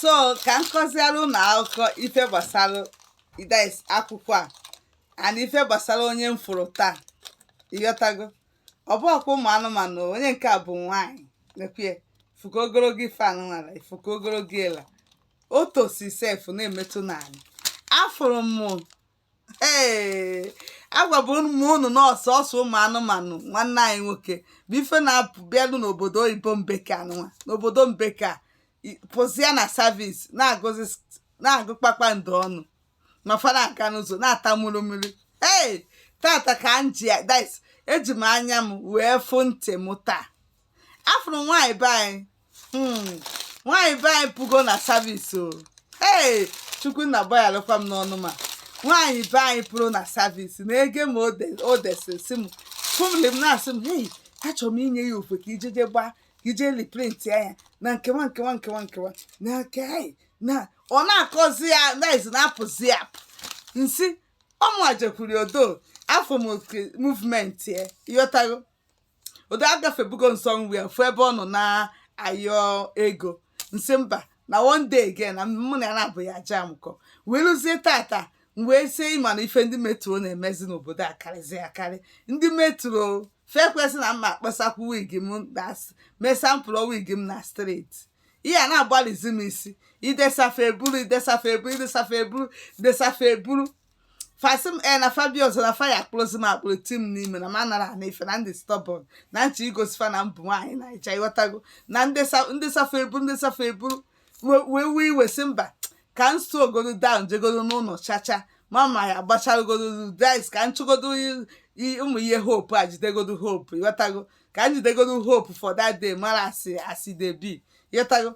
so ka m kọziara unu akụkọ ife gbasara idesa akwụkwọ a and ife gbasara onye m fụrụ taa ịghọtago ọ bụrọkwa ụmụ anụmanụ o, onye nke a bụ nwaanyị nekwe fuka ogologo ife anụmanụ ifuka ogologo ela o tosi sef na-emetụ n'ala afụrụ m ee agwabu m unu na ọ sọsọ ụmụ anụmanụ nwanne anyị nwoke bụ ife na-apụ bịanụ n'obodo oyibo mbeke a nọnwa n'obodo mbeke a i- pụzịa na service na-agụzi s- na-agụ kpakpando ọnụ ma fara aka n'ụzọ na-ata mmiri mmiri ee tata ka m ji dis eji m anya m wee fụ ntị m taa afụrụ nwaanyị be anyị hmm, nwaanyị be anyị pụgo na service o ee chukwu nna gbayalụkwa m n'ọnụ ma nwaanyị be anyị pụrụ na service na ege m o desịrị si m fụmli m na-asị m hei achọrọ m inye ya ofe ka i je je gbaa ka i je reprint ya ya na nkewa nkewa nkewa nkewa na nke anyị na ọ na-akọzi ya naiz na-apụzi ya n sị ọ mụa jekwuru odo afụ m oke movement ya ịghọtago odo agafebugo nsọ nri ya fụ ebe ọ nọ na-ayọ ego nsị mba na one day again na mụ na ya na-abụ ya aja amụkọ wee lụzie tata m wee sie ịma na ife ndị metro na-emezi n'obodo a karịzi akarị ndị metro fekwesị na mma akpasakwu wig m na s- mee sampụlụ wig m na steeti ihe a na-agbalịzi m isi idesafe eburu idesafe eburu idesafe eburu idesafe eburu fa sị m e na fa bịa ọzọ na fa ya-akpụrụzi m akpụrụ ti m n'ime na m anara anụ ife na n dị stubborn na n chọ igosi fa na m bụ nwaanyị naija ịghọtago na n desa- n desa fa ebu n desa fa ebu we- wee wee iwe sị mba ka m slow godu down jegodu n'ụlọ chacha ma m ya-agbachagodu dice ka m chụgodu i- i- ụmụ ihe hope a jidegodu hope ịghọtago ka m jidegodu hope for that day mara as e dey be ịghọtago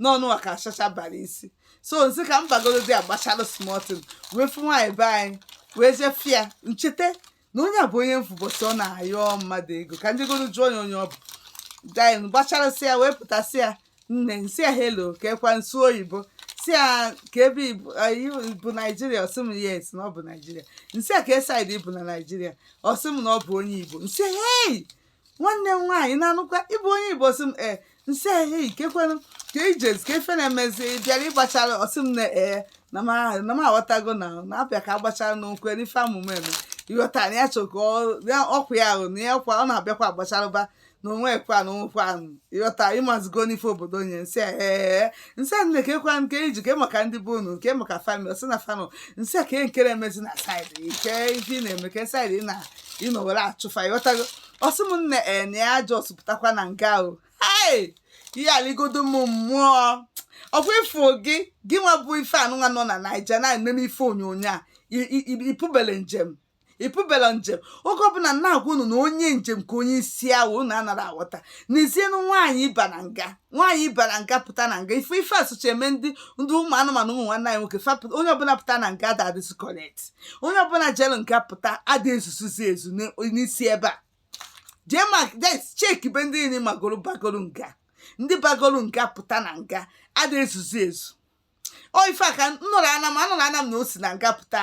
n'ọnụ a ka chacha bara isi so n sị ka m bagodu there gbachalụ small thing wee fụ nwaanyị be anyị wee jefia n cheta na onye a bụ onye m fụ ụbọchị ọ na-ayọ mmadụ ego ka n jegodu jụọ ya onye ọ bụ then gbacharụsịa wee pụta sị ya nne n sị ya hello kekwa n sụ oyibo sị ya kee ebe Igbo- eh, you bụ naijiria ọ sị m yes na ọ bụ naijiria n sị ya kee side ị bụ na naijiria ọ sị m na ọ bụ onye igbo n sị ya hei nwanne m nwaanyị na-anụkwa ị bụ onye igbo ọ sị m e n sị ehe kekwanụ ka ijezi kee ife na-emezi bịara ịgbachara ọ sị m na ee na m ahụ na m aghọtago na na-abịa ka agbachara n'okwu n'ife amụma eme ịghọta na ya chọka ọkwa ya ahụ na ya kwa ọ na-abịakwa agbacharụba na onwe kwa na onwekwa ahụ ịghọta ịmazigo n'ife obodo nye n sị ee n sị nne kekwa nke iji kee maka ndị be unu kee maka family ọ sị na family n sị kee nkere emezi na side kee ife ị na-eme kee side ị na ịnọ were achụfa ịghọtago ọsị m nne ee na ya just pụtakwa na nga o hei ihe aligodo m mmụọ ọkwa ịfụ gị gị nwa bụ ife unu nwa nọ na naija na-ememe ife onyonyo a i- i- i- ịpụbele njem ịpụbele njem oge ọbụla na-agwa unu na onye njem ka onye isi awọ unu anara aghọta n'ezienụ nwaanyị ba na nga nwaanyị bara nga pụta na nga ife ife asụcha eme ndị ndị ụmụ anụmanụ ụmụ nwanne anyị nwoke onye ọbụla pụta na nga ada adịzi correct onye ọbụla jelu nga pụta ada ezuzuzi ezu n'isi ebe a jee ma cheki be ndị niile magoro bagoro nga ndị bagoro nga pụta na nga ada ezuzu ezu ọ ife a ka m nụrụ ana m anụrụ ana m na o si na nga pụta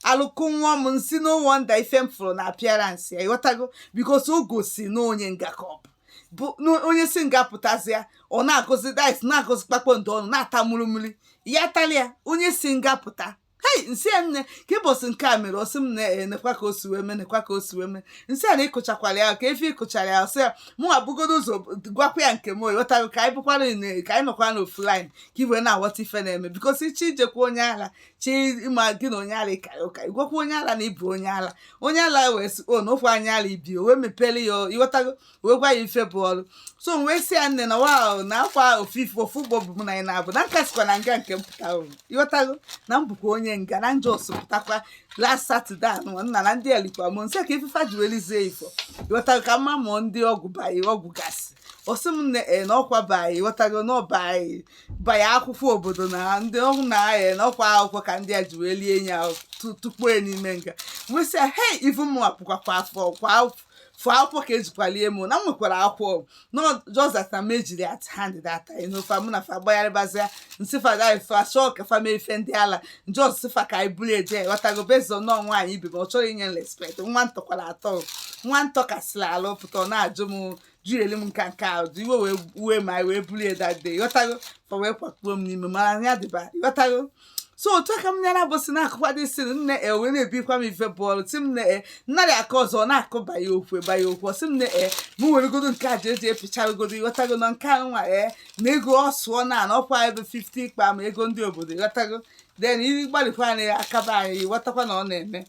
alụkụ nwa m m sị no wonder ife m fụrụ na appearance ya ịghọtago because o gosi na onye nga ka ọ bụ bụ na onye si nga pụtazịa ọ na-agụzi dice na-agụzi kpakpando ọnụ na-ata mmiri mmiri ya talịa onye si nga pụta hei m sị ya nne kee ụbọsị nke a mere ọsị m nne nekwa ka o si wee mee nekwa ka o si wee mee m sị ya na ịkọchakwara ya ka ife ịkọchara ya ọsị ya mụ abụgodo ụzọ gwakwa ya nke m ịghọtago ka anyị bụkwara ine- ka anyị nọkwa n'ofu line ka i wee na-aghọta ife na-eme because ichi ijekwa onye ala chi ịma gị na onye ala ịkara ụka ịgwakwa onye ala na ịbụ onye ala onye ala wee sị o na okwu anya ala ibi o wee mepere ya ọ- ịghọtago wee gwa ya ife bụ ọrụ so m wee sị ya nne na wow na ọkwa ofu ife ofu ụgbọ bu m na anyị naabọ na m ka sikwa na nga nke m pụta o ịghọtago na m bụkwa onye nga na m just pụtakwa last saturday anụ nna na ndị elikwa m nsị ka ife fa ji welizie ifo ịghọtago ka mma mụọ ndị ọgwụ bayi ọgwụ gasị ọsị m nne na ọkwa bayi ịghọtago na ọbayi bayi akwụkwọ obodo na ndị ọhụ na e na ọkwa akwụkwọ ka ndị a ji wee lie ya tu- tukpuo ya n'ime nga m wee sị ya hei ivu m apụkwakwa afọ kwa afọ for akwụkwọ ka ejikwalie m na m nwekwara akwụkwọ no just that na m ejiri at hand that time no fa mụ na fa gbagharịbazia m sị fa dai fa chọọ ka fa mee ife ndị ala m just sị fa ka anyị buru eje ghọtago based on nọọ nwaanyị ibe m ọ chọrọ inye m respect nwa m tọkwara atọ nwa m tọkasịla ala pụta ọ na-ajụ m jụreli m nka nke ahụ dị iwe wee wee ma anyị wee buru ya that day ghọtago fa wee kwakpuo m n'ime mara anya dịba ghọtago so otu a ka m nyara bụsị na-akọkwadị si nne o wee na-ebikwa m ife bọọlụ sị m nne nnarị aka ọzọ na-akọ banye okwu banye okwu sị m nne m weregodo nke a ji eji epichagodo ịghọtago na nke a nwa e na ego ọ sụọ na na ọkwa ebe 50 ikpa ma ego ndị obodo ịghọtago then ịgbalịkwa na akaba anyị ịghọtakwa na ọ na-eme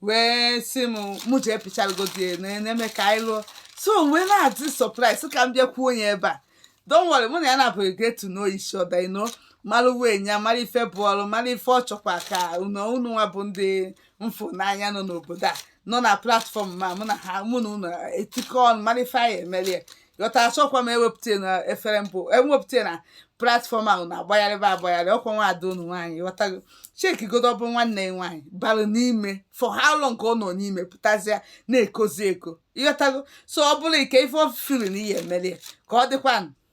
wee sị m mụ jee pichagodo ya na na-eme ka anyị lụọ so m wee na-adị surprise ka m bịakwuo onye ebe a don't worry mụ na ya na-abụghị get to know each other you know mara onwe anyị mara ife bụ ọrụ mara ife ọ chọkwa ka unu unu nwa bụ ndị m fụ n'anya nọ n'obodo a nọ na platfọm ma mụ na ha mụ na unu etikọ ọnụ mara ife anyị emere ya ghọta achọkwa m ewepụta na efere mbụ ewepụta na platfọm ahụ na-agbagharịba agbagharị ọ kwa nwa ada unu nwaanyị ghọtago chekigodo ọ bụ nwanne ya nwaanyị bara n'ime for how long ka ọ nọ n'ime pụtazịa na-ekozi eko ị ghọtago so ọ bụrụ ike ife ọ firi na ihe emeli ya ka ọ dịkwa